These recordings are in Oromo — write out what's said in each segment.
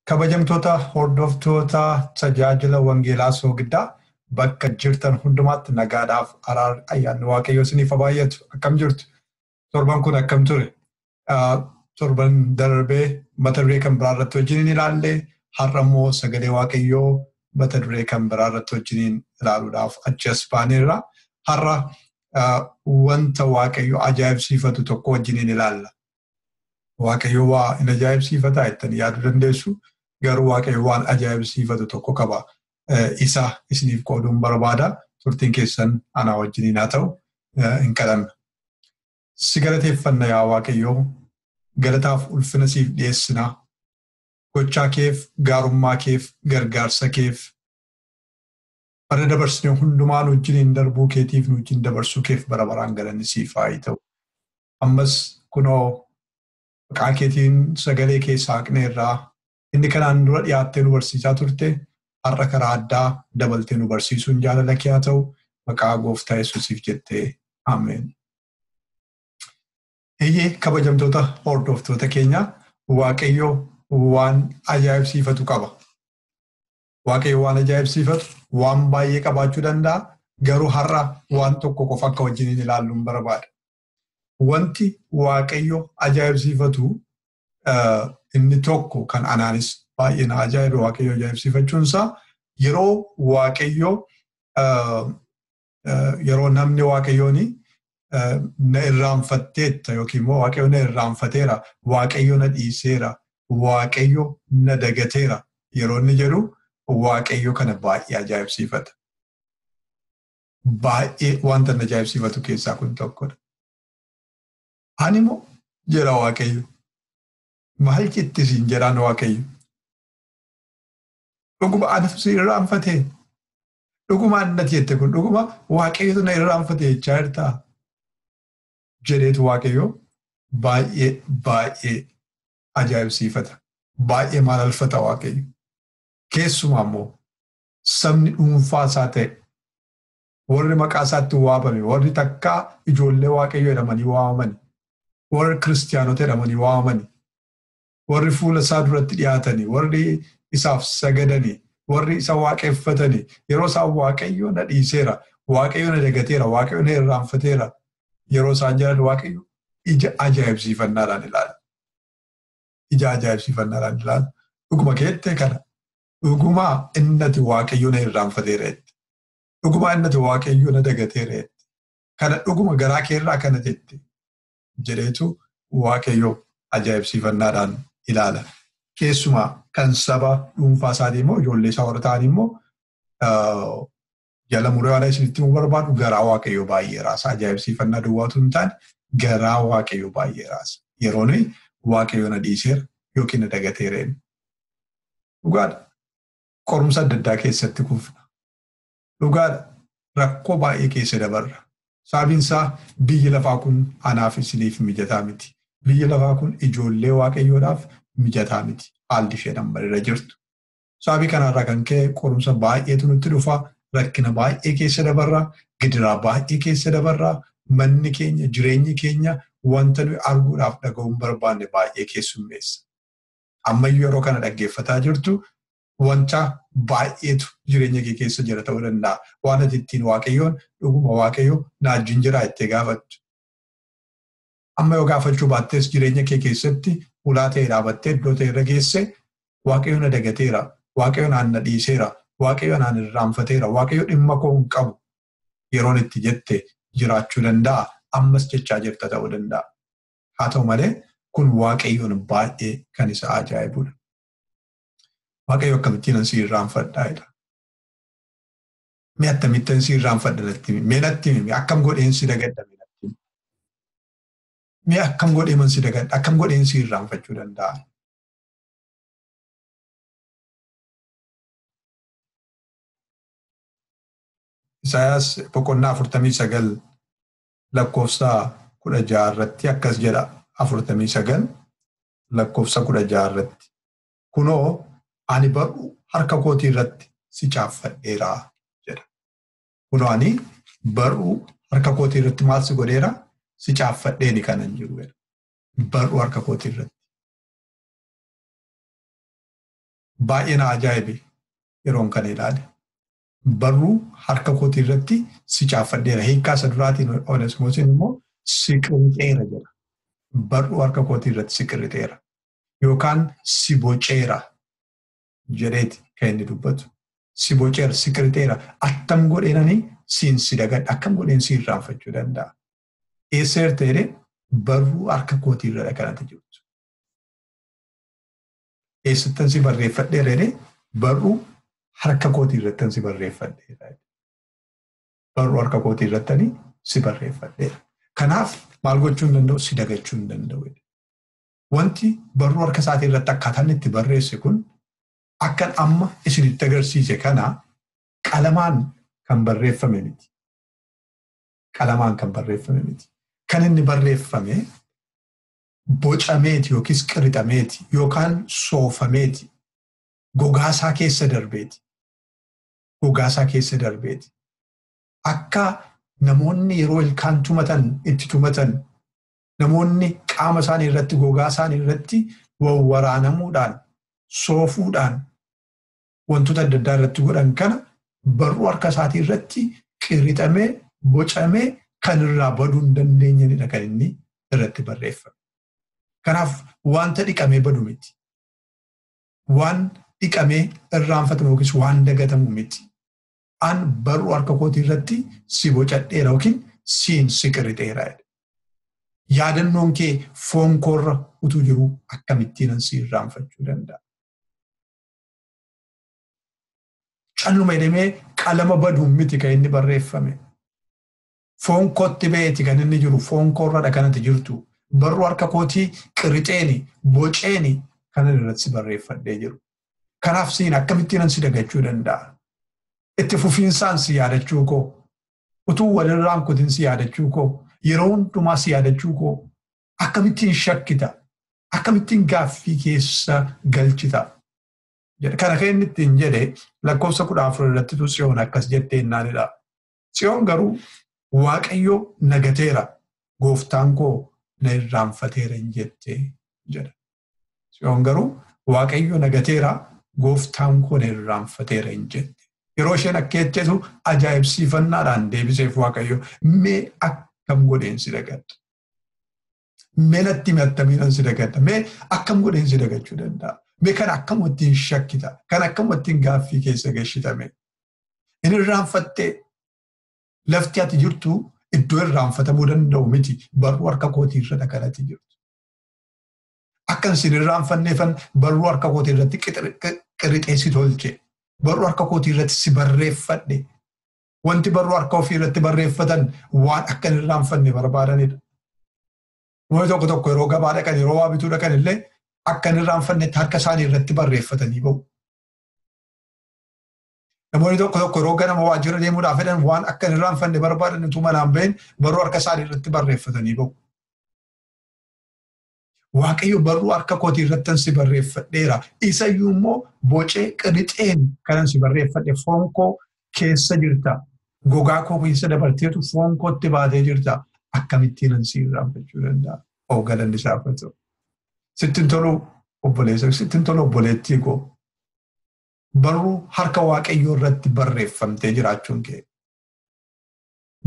Kabajamtoota hordoftoota tajaajila Wangeelaa Soogiddaa bakka jirtan hundumaatti nagaadhaaf araarri ayyaanni Waaqayyoo isiniif haa baay'atu. Akkam jirtu? Torban kun akkam ture? Torban darbee mata duree kan biraa irratti wajjin hin ilaalle har'a immoo sagalee Waaqayyoo mata duree kan biraa irratti wajjin ilaaluudhaaf achi as baaneerra. Har'a wanta Waaqayyo ajaa'ibsiifatu tokko wajjin hin ilaalla. Waaqayyo waa hin ajaa'ibsiifataa jettanii yaaduu dandeessu. Garuu Waaqayyo waan ajaa'ibsiifatu tokko qaba. Isa isiniif qooduun barbaada. Turtiin keessan anaa wajjiniin haa ta'u hin kadhanna. Si galateeffanna yaa Waaqayyo. Galataaf ulfina siif dhiyeessina. Gochaa keef, gaarummaa keef, gargaarsa keef, Bara dabarsine hundumaa nu wajjiniin darbuu keetiif nu wajjin dabarsuu keef bara baraan galanni siif haa ta'u. Ammas kunoo maqaa keetiin sagalee kee saaqneerraa inni kanaan dura dhiyaattee nu barsiisaa turte har'a karaa addaa dabaltee nu barsiisuun jaalala kee haa ta'u maqaa gooftaa yesuusiif jettee ameen. Eeyyee kabajamtoota hordoftoota keenya waaqayyo waan ajaa'ibsiifatu qaba. Waaqayyo waan ajaa'ibsiifatu waan baay'ee qabaachuu danda'a. Garuu har'a waan tokko qofa akka wajjiniin ilaalluun barbaada. Wanti Waaqayyo ajaa'ibsiifatu inni tokko kan anaanis baay'ee na ajaa'ibe Waaqayyo ajaa'ibsiifachuunsaa yeroo Waaqayyo yeroo namni waaqayyoon na irraanfatteetta yookiin immoo waaqayyo na irraanfateera waaqayyo na dhiiseera waaqayyo na dagateera yeroo inni jedhu waaqayyo kana baay'ee ajaa'ibsiifata. Baay'ee wanta na ajaa'ibsiifatu keessaa kun tokkodha. Ani immoo jedha waaqayyo maal jetti siin jedhaan waaqayyo. Dhuguma anatu si irraanfatee Dhuguma annati jette kun dhuguma waaqayyotu na irraanfate jechaa jirtaa? Jedheetu waaqayyo baay'ee baay'ee ajaa'ibsiifata. Baay'ee maalalfata waaqayyo. Keessumaa immoo sabni dhuunfaa isaa ta'e warri maqaa isaatti waamame warri takkaa ijoollee waaqayyo jedhamanii waamamani warri kiristiyaanota jedhamanii waamamani warri fuula isaa duratti dhiyaatanii warri isaaf sagadanii warri isa waaqeffatanii yeroo isaan waaqayyo na dhiiseera waaqayyo na dagateera waaqayyo na irraanfateera yeroo isaan jedhan waaqayyo ija ajaa'ibsiifannaadhaan ilaala. Ija ajaa'ibsiifannaadhaan ilaala. Dhuguma keettee kana dhuguma innati waaqayyo na irraanfateera jette. Dhuguma innati waaqayyo na dagateera jette. Kana dhuguma garaa keerraa kana jette. jedheetu waaqayyo ajaa'ibsiifannaadhaan ilaala. Keessumaa kan saba dhuunfaa isaatii immoo ijoollee isaa warra ta'an immoo jala muree waan isinitti himuu barbaadu garaa waaqayyo baay'ee raasa. Ajaa'ibsiifannaa duwwaatu hin taane garaa waaqayyo baay'ee raasa. Yeroo nuyi waaqayyo na dhiiseera yookiin na dagateera jennu. Dhugaadha. Qorumsa adda addaa keessatti kufna. Dhugaadha rakkoo baay'ee keessa dabarra. Sababiin isaa biyyi lafaa kun anaaf isiniif mijataa miti. Biyyi lafaa kun ijoollee waaqayyoodhaaf mijataa miti. Haalli isheen amma irra jirtu. Sababii kanarraa kan ka'e qorumsa baay'eetu nutti dhufa. Rakkina baay'ee keessa dabarra. Gidiraa baay'ee keessa dabarra. Manni keenya, jireenyi keenya wanta nuyi arguudhaaf dhaga'uu hin barbaanne baay'ee keessummeessa. Ammayyuu yeroo kana dhaggeeffataa jirtu wanta baay'eetu jireenya kee keessa jira ta'uu danda'a. Waan ati ittiin waaqayyoon dhuguma waaqayyo na wajjin jiraa jettee gaafattu. Amma yoo gaafachuu baattees jireenya kee keessatti ulaa ta'e dhaabattee iddoo ta'e irra geesse waaqayyo na dagateera, waaqayyo naan na dhiiseera, waaqayyo naan irraanfateera, waaqayyo dhimma koo hin qabu yeroon itti jette jiraachuu danda'a. Ammas jechaa jirta ta'uu danda'a. Haa ta'u malee kun waaqayyoon baay'ee kan isa ajaa'ibudha. Waaqayyo akkamittiin si irraanfadhaa jedha. Mee akkamittiin si irraanfadha natti himi. Mee natti himi. Akkam godheen si dagadha mee natti himi. Mee akkam godhee man si dagadha. Akkam godheen si irraanfachuu danda'a. Isaayaas boqonnaa afurtamii sagal lakkoofsa kudha ja'a irratti akkas jedha afurtamii sagal lakkoofsa kudha ja'a irratti kunoo ani bar'uu harka kootii irratti si caaffadheera jedha. Kunoo ani bar'uu harka kootii irratti maal si godheera si caaffadheeni kanan jiru jedha. Bar'uu harka kootii irratti. Baay'ee na ajaa'ibe yeroon kana ilaale. barruu harka kootii irratti si caaffadheera. Hiikkaa isa duraatiin Onesmoosiin immoo si qirixeera jedha. Barruu harka kootii irratti si qirixeera. Yookaan si boceera jedheeti kan inni dubbatu. Si boceera, si qirixeera. Attam godheenani siin si dagadha. Akkam godheen si irraanfachuu danda'a. Eesseer ta'ee barruu harka kootii irra kanatti jirtu. eessattan si barreeffadheera jedhee barruu harka kootii irrattan si barreeffadheera. Barruu harka kootii irrattani si barreeffadheera. Kanaaf maal gochuu hin danda'u si dagachuu hin danda'u. Wanti barruu harka isaatii irratti akkaataan itti barreesse kun akkan amma isinitti agarsiise kana qalamaan kan barreeffame miti. Qalamaan kan barreeffame miti. Kan inni barreeffame bocameeti yookiis qirixameeti yookaan soofameeti gogaasaa keessa darbeeti gogaasaa keessa darbeeti akka namoonni yeroo ilkaan tumatan itti tumatan namoonni qaama isaanii irratti gogaa isaanii irratti wawwaraanamuudhaan soofuudhaan wantoota adda addaa irratti godhan kana barruu harka isaatii irratti qirixamee bocamee kan irraa baduu hin dandeenyedha kan inni irratti barreeffame. Kanaaf wanta dhiqamee badu miti. Waan dhiqamee irraanfatamu yookiis waan dagatamu miti. An barruu harka kootii irratti si bocadheera yookiin siin si qirixeera. Yaadannoon kee foon koorra utuu jiruu akkamittiin si irraanfachuu danda'a? Calluma jedhamee qalama baduun miti kan inni barreeffame. Foon kootti ba'eeti kan inni jiru foon koorradha kanatti jirtu. Barruu harka kootii qirixeeni boceeni kan inni irratti barreeffadhee jiru. Kanaaf siin akkamittiin si dagachuu danda'a? Itti fufiinsaan si yaadachuu koo utuu walirraan kutin si yaadachuu koo yeroo hundumaa si yaadachuu koo akkamittiin shakkita akkamittiin gaaffii keessa galchita jedhe kana kan inni ittiin jedhe lakkoofsa kudha afur irrattitu tsiyoon akkas jettee naanidha tsiyoon garuu waaqayyo nagateera gooftaan koo na irraanfateera hin jette jedha tsiyoon garuu waaqayyo nagateera gooftaan koo na irraanfateera hin jette yeroo isheen akka jettetu ajaa'ibsiifannaadhaan deebiseef waaqayyo mee akkam godheen si dagadha Mee natti himi attamiinan si dagadha. Mee akkam godheen si dagachuu danda'a. Mee kan akkam ittiin shakkita. Kan akkam ittiin gaaffii keessa gashitame. Inni irraanfattee lafti ati jirtu iddoo irraanfatamuu danda'u miti. Barruu harka kootii irra kan ati jirtu. Akkan sin irraanfanneefan barruu harka kootii irratti qirixee si tolche. Barruu harka kootii irratti si barreeffadhe. Wanti barruu harka ofii irratti barreeffatan waan akka hin irraanfanne barbaadanidha. Namoonni tokko tokko yeroo gabaa dhaqan yeroo waa bituu dhaqan illee akka hin irraanfannetti harka isaanii irratti barreeffatanii ba'u. Namoonni tokko tokko yeroo ganama waajjira deemuudhaaf fedhan waan akka hin irraanfanne barbaadan utuu manaan bahin barruu harka isaanii irratti barreeffatanii ba'u. Waaqayyo barruu harka kootii irrattan si barreeffadheera. Isa iyyuu immoo bocee qirixeen kanan si barreeffadhe foon koo keessa jirta. Gogaa koo keessa dabarteetu foon kootti baatee jirta. Akkamittiinan si irraanfachuu danda'a? Oo galanni isaaf haa ta'u. Sitti hin tolu obboleessa, sitti hin tolu obboleettii koo. Barruu harka Waaqayyoo irratti barreeffamtee jiraachuun kee.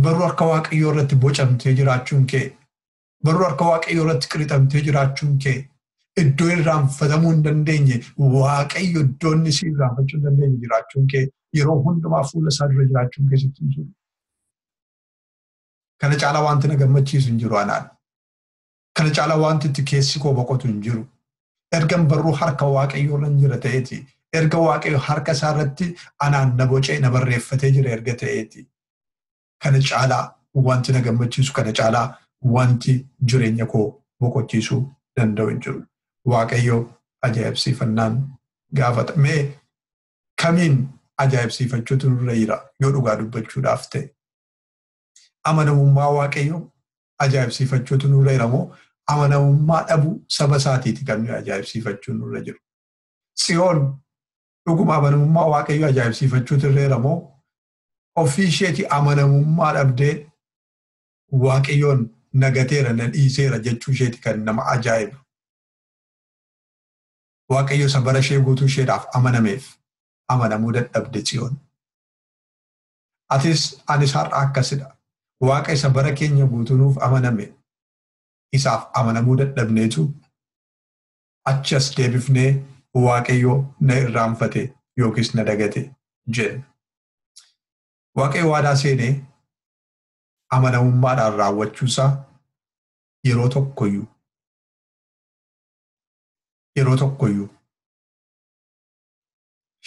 Barruu harka Waaqayyoo irratti bocamtee jiraachuun kee. baruu harka waaqayyoo irratti qirixamtee jiraachuun kee iddoo irraanfatamuu hin dandeenye waaqayyo iddoo inni si irraanfachuu hin dandeenye jiraachuun kee yeroo hundumaa fuula isaa dura jiraachuun kee sitti hin jiru. Kana caalaa wanti na gammachiisu hin jiru anaan. Kana caalaa wanti itti keessi koo boqotu hin jiru. Ergan barruu harka waaqayyoo irra jira ta'eeti. Erga waaqayyo harka isaa irratti anaan na bocee na barreeffatee jira erga ta'eeti. kana caalaa wanti na gammachiisu kana caalaa wanti jireenya koo boqochiisuu danda'u hin jiru. Waaqayyo ajaa'ibsiifannaan gaafata. Mee kamiin ajaa'ibsiifachuutu nurra jira yoo dhugaa dubbachuudhaaf ta'e? Amanamummaa Waaqayyo ajaa'ibsiifachuutu nurra jira moo amanamummaa dhabuu saba isaatiiti kan nuyi ajaa'ibsiifachuun nurra jiru? Tsiyoon dhuguma amanamummaa Waaqayyo ajaa'ibsiifachuutu irra jira moo ofii isheetii amanamummaa dhabdee waaqayyoon na gateera na dhiiseera jechuu isheeti kan nama ajaa'ibu. Waaqayyo isa bara ishee guutuu isheedhaaf amanameef amanamuu dadhabde tsiyoon. Atis anis har'a akkasidha. Waaqa isa bara keenya guutuu nuuf amaname isaaf amanamuu dadhabneetu achi as deebifnee Waaqayyo na irraanfate yookiis na dagate jenna. Waaqayyo waadaa seenee amanamummaadhaan raawwachuusaa yeroo tokkoyyuu yeroo tokkoyyuu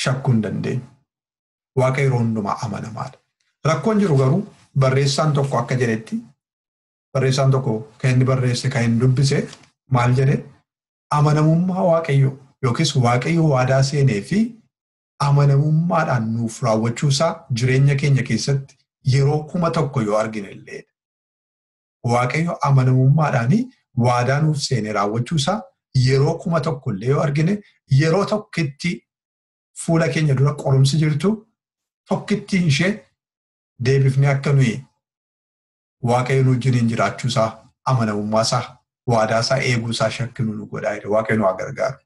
shakkuu hin dandeenyu. Waaqa yeroo hundumaa amanamaadha. Rakkoon jiru garuu barreessaan tokko akka jedhetti barreessaan tokko kan inni barreesse kan inni dubbise maal jedhe amanamummaa waaqayyoo yookiis waaqayyo waadaa seenee fi amanamummaadhaan nuuf raawwachuusaa jireenya keenya keessatti yeroo kuma tokko yoo argine illee waaqayyo amanamummaadhaan waadaa nuuf seenee raawwachuusaa yeroo kuma tokko illee yoo argine yeroo tokkitti fuula keenya dura qorumsi jirtu tokkittiin ishee deebifnee akka nuyi Waaqayyo nu wajjiniin jiraachuu isaa, amanamummaa isaa, waadaa isaa eeguu isaa shakkinu nu godhaa jedhe. Waaqayyo nu haa gargaaru.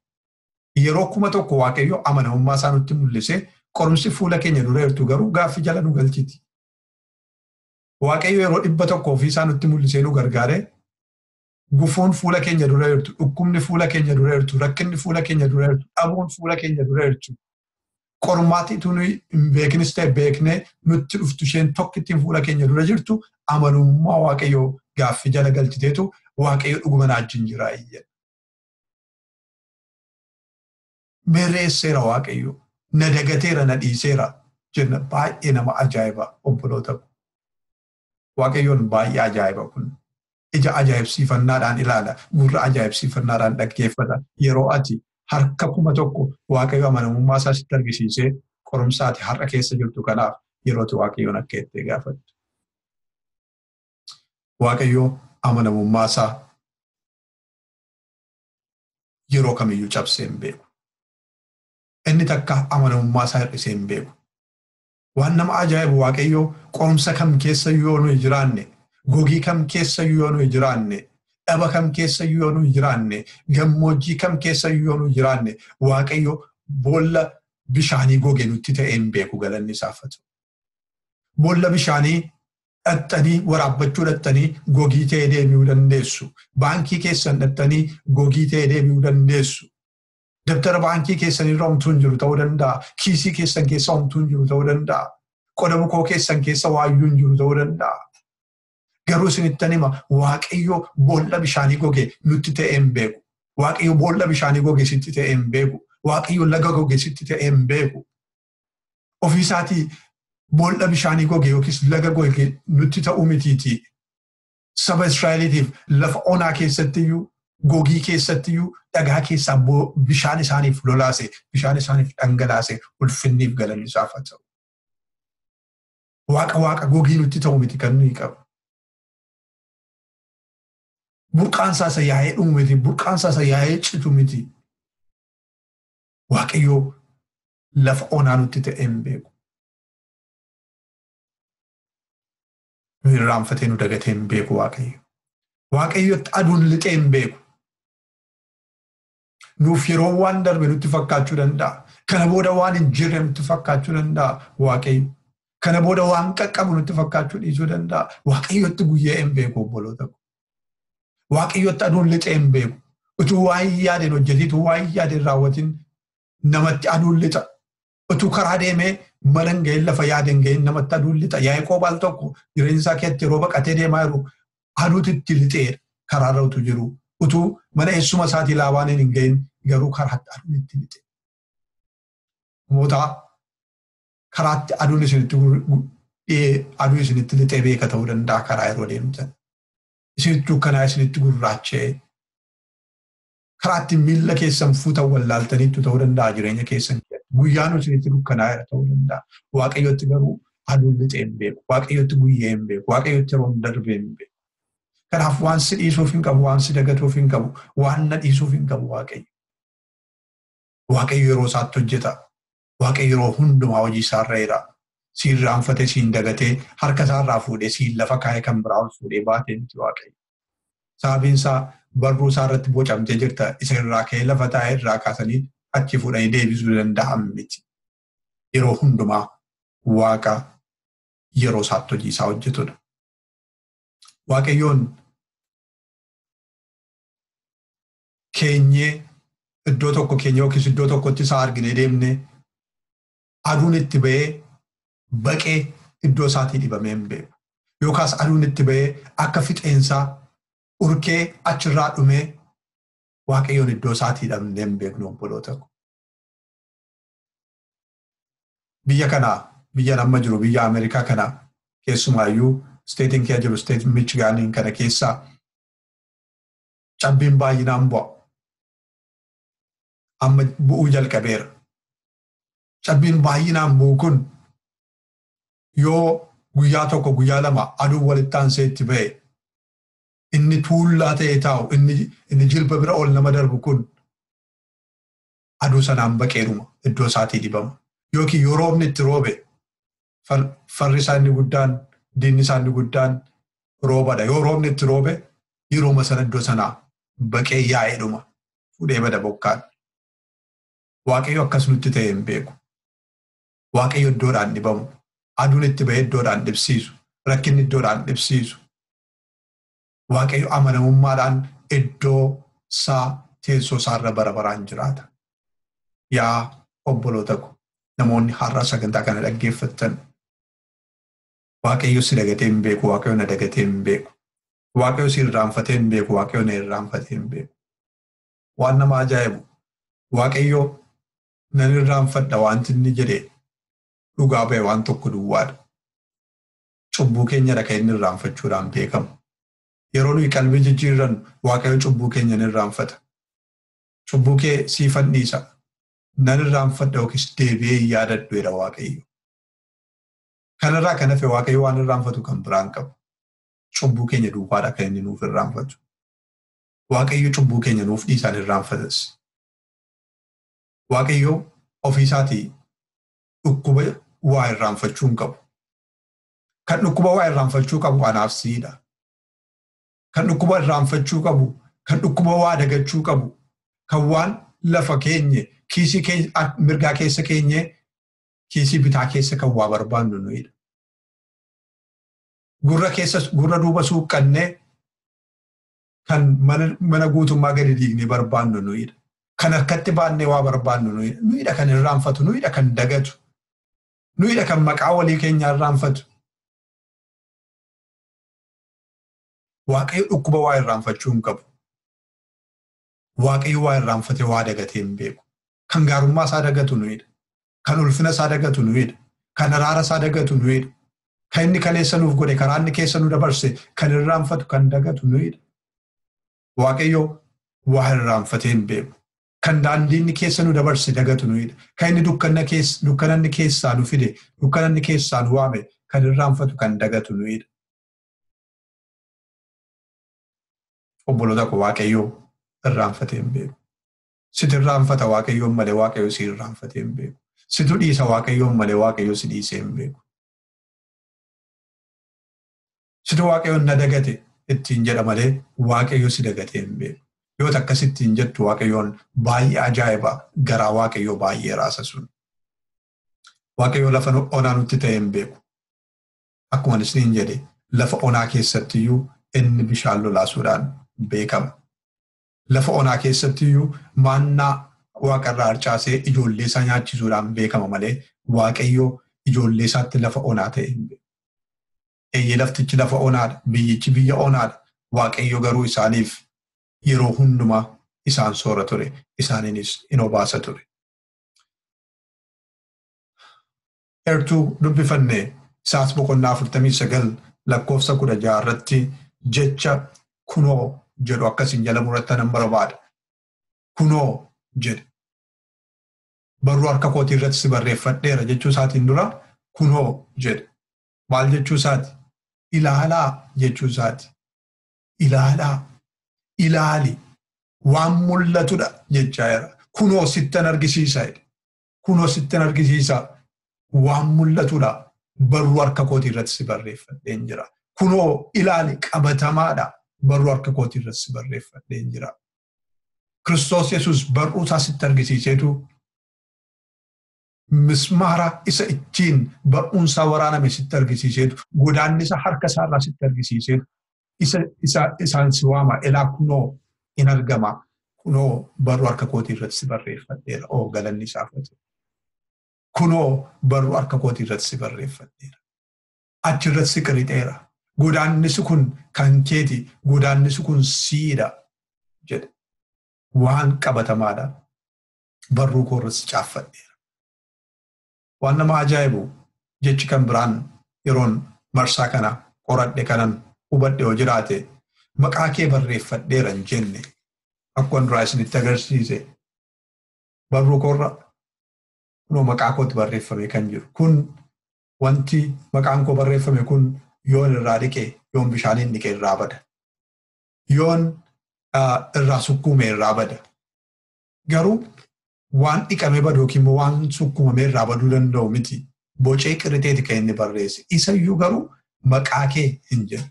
Yeroo kuma tokko Waaqayyo amanamummaa isaa nutti mul'ise qorumsi fuula keenya dura jirtu garuu gaaffii jala nu galchiti. Waaqayyo yeroo dhibba tokko ofii isaa nutti mul'isee nu gargaare Gufuun fuula keenya dura jirtu, dhukkubni fuula keenya dura jirtu, rakkinni fuula keenya dura jirtu, dhabuun fuula keenya dura jirtu, qormaatni utuu nuyi hin beekinis ta'e beeknee nutti dhuftu isheen tokkittiin fuula keenya dura jirtu amanamummaa Waaqayyoo gaaffii jala galchiteetu Waaqayyo dhuguma naa wajjin jira jedha. Mereesseera Waaqayyo, na dagateera, na dhiiseera jenna baay'ee nama ajaa'iba obboloota. Waaqayyoon baay'ee ajaa'iba kun. Ija ajaa'ibsiifannaadhaan ilaala, gurra ajaa'ibsiifannaadhaan dhaggeeffata. Yeroo ati harka kuma tokko Waaqayyo amanamummaa isaa sitti argisiisee qorumsa ati har'a keessa jirtu kanaaf yeroo ati Waaqayyoon akka itti gaafattu. Waaqayyo amanamummaa isaa yeroo kamiyyuu cabsee hin beeku. Inni takka amanamummaa isaa hir'isee hin beeku. Waan nama ajaa'ibu Waaqayyo qorumsa kam keessayyuu yoo nuyi jiraanne, gogii kam keessayyuu yoo nuyi jiraanne, dhaba kam keessayyuu yoo nuyi jiraanne, gammoojjii kam keessayyuu yoo nuyi jiraanne, Waaqayyo boolla bishaanii goge nutti ta'ee hin beeku galanni isaaf haa ta'u. Boolla bishaanii dhaxxanii waraabbachuu dhaxxanii gogii ta'ee deebi'uu dandeessu. Baankii keessan dhaxxanii gogii ta'ee deebi'uu dandeessu. Dabtara baankii keessan irra homtuu hin jiru ta'uu danda'a. Kiisii keessan keessa homtuu hin jiru ta'uu danda'a. Qoda bukoo keessan keessa waayyuu hin jiru ta'uu danda'a. Garuu isinittan hima waaqayyo boolla bishaanii goge nutti ta'ee hin beeku. Waaqayyo boolla bishaanii goge sitti ta'ee hin beeku. Waaqayyo laga goge sitti ta'ee hin beeku. Ofiisaatii boolla bishaanii goge yookiis laga goge nutti ta'uu mitiitii. saba Israa'eliitiif lafa onaa keessattiyyuu gogii keessattiyyuu dhagaa keessaa bishaan isaaniif lolaase bishaan isaaniif dhangalaase ulfinniif galanni isaaf haa ta'u. Waaqa waaqa gogii nutti ta'u miti kan nuyi qabu. Burqaan isaa isa yaa'ee dhumu miti burqaan isaa isa yaa'ee citu miti. Waaqayyoo lafa onaa nutti ta'ee hin beeku. nu irraanfatee nu dagatee hin beeku waaqayyo. Waaqayyotti aduun lixee hin beeku. Nuuf yeroo waan darbe nutti fakkaachuu danda'a. Kana booda waan hin jirre nutti fakkaachuu danda'a waaqayyo. Kana booda waan qaqqabu nutti fakkaachuu dhiisuu danda'a. Waaqayyotti guyyaa hin beeku obboloota koo. Waaqayyotti aduun lixee hin beeku. Utuu waan yaadeen hojjetii utuu waan yaadeen raawwatiin namatti aduun lixa. Utuu karaa deemee mana hin ga'in lafa yaade hin ga'in namatti aduun lixa. Yaaqoob al tokko jireenya isaa keessatti yeroo baqatee deemaa jiru aduutti itti lixeera karaarra utuu jiru. Utuu mana eessuma isaatii laabaaniin hin ga'in garuu karaatti aduun itti lixe. Namoota karaatti aduun isinitti aduu isinitti lixee beeka ta'uu danda'a karaa yeroo deemtan. Isinitti dukkanaa isinitti gurraachee karaa ittiin miilla keessan fuutan wallaaltaniittu ta'uu danda'a jireenya keessan keessatti. Guyyaan isinitti dukkanaa'eera ta'uu danda'a. Waaqayyotti garuu aduun lixee hin beeku. Waaqayyotti guyyee hin beeku. Waaqayyotti yeroon darbee hin beeku. Kanaaf waan si dhiisuuf hin qabu, waan si dagatuuf hin qabu, waan na dhiisuuf hin qabu Waaqayyo. Waaqayyo yeroo isaatti hojjeta. Waaqayyo yeroo hundumaa hojii isaa irra jira. Si irraanfatee, si hin dagatee, harka isaa irraa fuudhee, si lafa kaa'ee kan biraa ol fuudhee baatee miti Waaqayyo. Sababiin isaa barruu isaa irratti bocamtee jirta. Isa irraa ka'ee lafa taa'ee irraa kaasanii achi fuudhanii deebisuu danda'an miti. Yeroo hundumaa Waaqa yeroo isaatti hojii isaa hojjetudha. Waaqayyoon keenyee iddoo tokko keenya yookiis iddoo tokkotti isaa argine deemne aduun itti ba'ee baqee iddoo isaatii dhibamee hin beeku. Yookaas aduun itti ba'ee akka fixeensaa urkee achirraa dhumee waaqayyoon iddoo isaatii dhabnee hin beeknu obboloota ko. Biyya kana biyyan amma jiru biyya Ameerikaa kana keessumaayyuu isteetiin kee jiru isteetiin Michigaaniin kana keessaa cabbiin baay'inaan bu'a. Amma bu'uu jalqabeera. Cabbiin baay'inaan bu'u kun yoo guyyaa tokko guyyaa lama aduun walitti aansee itti ba'e inni tuullaa ta'ee taa'u inni jilba bira ol nama darbu kun aduu sanaan baqeedhuma iddoo isaatii dibama. Yookiin yoo roobni itti roobe farri isaa inni guddaan diinni isaa inni guddaan roobadha. Yoo roobni itti roobe yerooma sana iddoo sanaa baqee yaa'ee dhuma fudhee bada bokkaan. Waaqayyo akkas nutti ta'e hin beeku. Waaqayyo iddoodhaan dhibamu. Aduun itti ba'ee iddoodhaan dhibsiisu. Rakkinni iddoodhaan dhibsiisu. Waaqayyo amanamummaadhaan iddoo isaa teessoo isaa irra bara baraan jiraata. Yaa obboloota ko namoonni har'a sagantaa kana dhaggeeffattan Waaqayyo si dagatee hin beeku, Waaqayyo na dagatee hin beeku. Waaqayyo si irraanfatee hin beeku, Waaqayyo na irraanfatee hin beeku. Waan nama ajaa'ibu Waaqayyo nan irraanfadha wanti inni jedhe dhugaa ba'e waan tokko duwwaadha. cubbuu keenya dha kan inni irraanfachuudhaan beekamu. Yeroo nuyi qalbii jijjiirrannu Waaqayyo cubbuu keenya ni irraanfata. Cubbuu kee siifan dhiisa, nan irraanfadha yookiis deebi'ee hin yaadadhu jedha Waaqayyo. Kanarraa kan hafe Waaqayyo waan irraanfatu kan biraa hin qabu. Cubbuu keenya duwwaadha kan inni nuuf irraanfatu. Waaqayyo cubbuu keenya nuuf dhiisaan irraanfatas. Waaqayyo ofiisaatii dhukkuba waa irraanfachuu hin qabu. Kan dhukkuba waa irraanfachuu qabu anaaf siidha. Kan dhukkuba irraanfachuu qabu, kan dhukkuba waa dagachuu qabu, kan waan lafa keenye, kiisii mirgaa keessa keenye, kiisii bitaa keessa kan waa barbaannu nuyidha. Gurra keessa gurra duuba suuqqannee kan mana guutummaa gadi diignee barbaannu nuyidha. Kan harkatti baannee waa barbaannu nuyidha. Nuyidha kan irraanfatu, nuyidha kan dagatu. Nuyidha kan maqaa walii keenyaa irraanfatu. Waaqayyo dhukkuba waa irraanfachuu hin qabu. Waaqayyo waa irraanfatee waa dagatee hin beeku. Kan gaarummaa isaa dagatu nuyidha. Kan ulfina isaa dagatu nuyidha. Kan araara isaa dagatu nuyidha. Kan inni kaleessa nuuf godhe karaa inni keessa nu dabarse kan irraanfatu kan dagatu nuyidha. Waaqayyo waa irraanfatee hin beeku. kan daandiinni keessa nu dabarse dagatu nuyidha. Kan inni dukkananni keessaa nu fide, dukkananni keessaa nu waame kan irraanfatu kan dagatu nuyidha. Obboloota koo Waaqayyoo irraanfatee hin beeku. Situ irraanfata Waaqayyoon malee Waaqayyo si irraanfatee hin beeku. Situ dhiisa Waaqayyoon malee Waaqayyo si dhiisee hin beeku. Situ waaqayyoon na dagate ittiin jedha malee waaqayyo si dagatee hin beeku. Yoo takka sittiin jettu waaqayyoon baay'ee ajaa'iba garaa waaqayyoo baay'ee raasa sun. Waaqayyoo lafa onaa nutti ta'ee hin beeku. Akkuma isiniin jedhe lafa onaa keessatti iyyuu inni bishaan lolaasuudhaan beekama. Lafa onaa keessatti iyyuu maannaa waaqarraa harcaasee ijoollee isaa nyaachisuudhaan beekama malee waaqayyoo ijoollee isaatti lafa onaa ta'e hin beeku. Eeyyee laftichi lafa onaa dha, biyyichi biyya onaa dha, Waaqayyo garuu isaaniif yeroo hundumaa isaan soora ture, isaaniinis in obaasa ture. Eertuu dubbifanne isaas boqonnaa 49 lakkoofsa 16 irratti jecha kunoo jedhu akka isin jala muratan nan barbaada. Kunoo jedhe. Barruu harka kootii irratti si barreeffadheera jechuu isaatiin dura kunoo jedhe. maal jechuu isaati? Ilaalaa jechuu isaati. Ilaalaa, ilaali, waan mul'atudha jechaa jira. Kunoo sittan argisiisa jedhe. Kunoo sittan argisiisa waan mul'atudha. Barruu harka kootii irratti si barreeffadheen jira. Kunoo ilaali qabatamaadha. Barruu harka kootii irratti si barreeffadheen jira. Kiristoos Yesuus barruu isaa sitti argisiiseetu mismaara isa ittiin bar'uun isaa waraaname sitti argisiiseetu, godaannisa harka isaa irraa sitti argisiiseetu, isa isa isaan si waama elaa kunoo in argama kunoo barruu harka kootii irratti si barreeffadheera oo galanni isaaf haa ta'u. Kunoo barruu harka kootii irratti si barreeffadheera. Achi irratti si qirixeera. Godaannisi kun kan keeti, godaannisi kun siidha jedhe. Waan qabatamaadha. barruu koo irratti caaffadheera. Waan nama ajaa'ibu jechi kan biraan yeroon marsaa kana qoradhe kanan hubadhe yoo jiraate maqaa kee barreeffadheera hin jenne akkuma duraa isinitti agarsiise barruu koorra kunoo maqaa kootti barreeffame kan jiru kun wanti maqaan koo barreeffame kun yoon irraa dhiqe yoon bishaaniin dhiqe irraa bada yoon irraa sukkuume irraa bada garuu waan dhiqamee badu yookiin immoo waan sukkumamee irraa baduu danda'u miti. Bocee qirrixeeti kan inni barreesse. Isayyuu garuu maqaa kee hin jenne.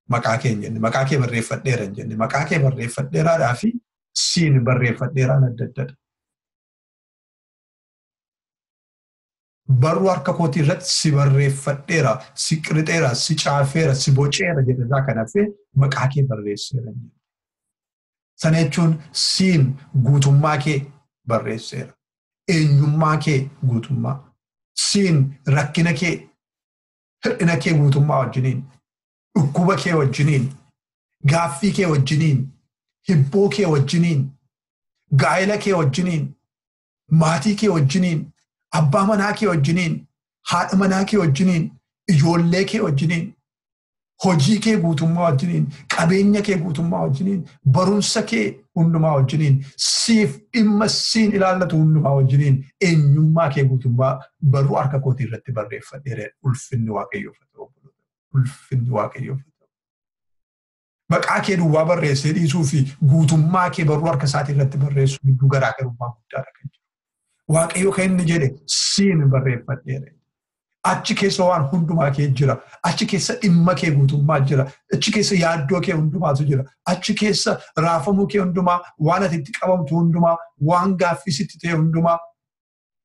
Maqaa kee hin jenne. Maqaa kee barreeffadheera hin jenne. Maqaa kee barreeffadheeraadhaa fi siin barreeffadheeraan adda addadha. Barruu harka kootii irratti si barreeffadheera, si qirixeera, si caafeera, si boceera jedhe irraa kan hafe maqaa kee barreesseera. Sana jechuun siin guutummaa kee barreesseera. Eenyummaa kee guutummaa. Siin rakkina kee, hir'ina kee guutummaa wajjiniin, dhukkuba kee wajjiniin, gaaffii kee wajjiniin, hibboo kee wajjiniin, gaa'ela kee wajjiniin, maatii kee wajjiniin, abbaa manaa kee wajjiniin, haadha manaa kee wajjiniin, ijoollee kee wajjiniin, hojii kee guutummaa wajjiniin, qabeenya kee guutummaa wajjiniin, barumsa kee hundumaa wajjiniin, siif dhimma siin ilaallatu hundumaa wajjiniin eenyummaa kee guutummaa baruu harka kootii irratti barreeffadheera. Ulfinni Waaqayyoof haa ta'u. Ulfinni Waaqayyoof haa ta'u. maqaa kee duwwaa barreessee dhiisuu fi guutummaa kee barruu harka isaatii irratti barreessuu gidduu garaagarummaa guddaadha kan jiru. Waaqayyo kan inni jedhe siin barreeffadheera. Achi keessa waan hundumaa kee jira. Achi keessa dhimma kee guutummaa jira. Achi keessa yaaddoo kee hundumaatu jira. Achi keessa raafamuu kee hundumaa, waan ati itti qabamtu hundumaa, waan gaaffii sitti ta'e hundumaa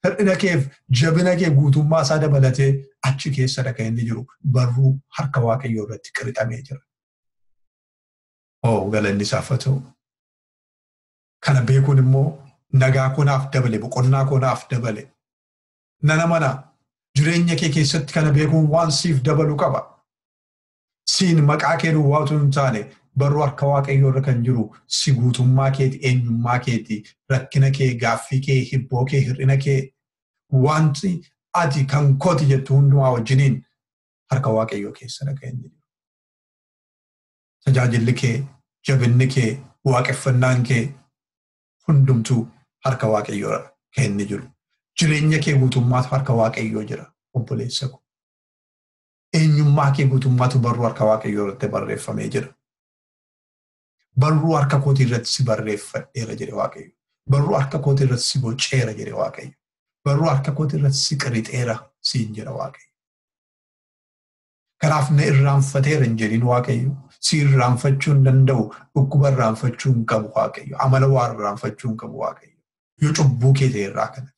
Hir'ina keef jabina kee guutummaa isaa dabalatee achi keessadha kan inni jiru barruu harka waaqayyoo irratti qirixamee jira. Oo galanni isaaf haa ta'u. Kana beekuun immoo nagaa koo naaf dabale boqonnaa koo naaf dabale. Nana mana jireenya kee keessatti kana beekuun waan siif dabalu qaba. Siin maqaa kee duwwaa utuu hin taane barruu harka waaqayyoo irra kan jiru si guutummaa keeti eenyummaa keeti rakkina kee gaaffii kee hibboo kee hir'ina kee wanti ati kan kooti jettu hundumaa wajjiniin harka waaqayyoo keessadha kan inni jiru. Tajaajilli kee jabinni kee waaqeffannaan kee hundumtuu harka waaqayyoo irra kan inni jiru. Jireenya kee guutummaatu harka waaqayyoo jira obboleessa koo. eenyummaa kee guutummaatu barruu harka waaqayyoo irratti barreeffamee jira. Barruu harka kootii irratti si barreeffadheera jedhe waaqayyo. Barruu harka kootii irratti si boceera jedhe waaqayyo. Barruu harka kootii irratti si qirixeera siin jedha waaqayyo. Kanaaf na irraanfateera hin jedhin waaqayyo. Si irraanfachuu hin danda'u. Dhukkuba irraanfachuu hin qabu waaqayyo. Amala waa irraanfachuu hin qabu waaqayyo. Yoo cubbuu kee ta'e irraa kana.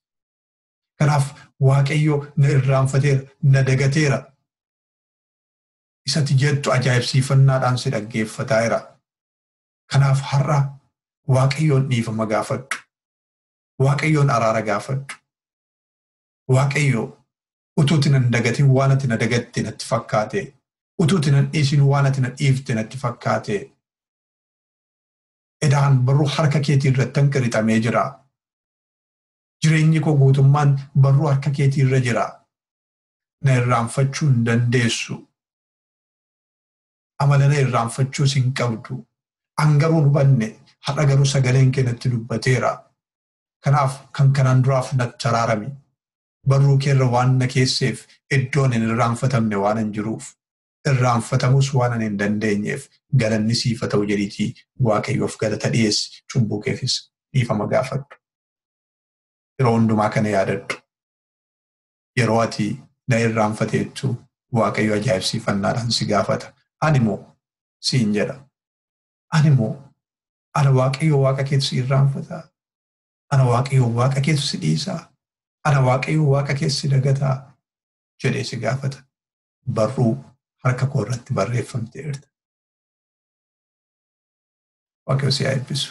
Kanaaf Waaqayyo na irraanfateera, na dagateera. Isati jettu ajaa'ibsiifannaadhaan si dhaggeeffataa jira. Kanaaf har'a Waaqayyoon dhiifama gaafadhu. Waaqayyoon araara gaafadhu. Waaqayyo utuuti nan dagatin waan ati na dagatte natti fakkaate. Utuuti nan dhiisin waan ati na dhiifte natti fakkaate. Edaan barruu harka keetii irratti hanqirixamee jira. Jireenyi koo guutummaan barruu harka keetii irra jira. Na irraanfachuu hin dandeessu. Amala na irraanfachuus hin qabdu. An garuu hin hubanne, har'a garuu sagaleen kee natti dubbateera. Kanaaf kan kanaan duraaf natti araarami. Barruu kee irra waan na keesseef iddoon hin irraanfatamne waanan jiruuf. irraanfatamuus waan ani hin dandeenyeef galanni siif haa ta'u jedhiitii Waaqayyoof galata dhiyeessi, cubbuu keefis dhiifama gaafadhu. Yeroo hundumaa kana yaadadhu. Yeroo ati na irraanfateettu Waaqayyo ajaa'ibsiifannaadhaan si gaafata. Ani moo siin jedha. Ani moo ana Waaqayyo Waaqa keetu si irraanfataa? Ana Waaqayyo Waaqa keetu si dhiisaa? Ana Waaqayyo Waaqa keetu si dagataa? jedhee si gaafata. barruu harka koo irratti barreeffamteerta. Waaqayyo si haa eebbisu.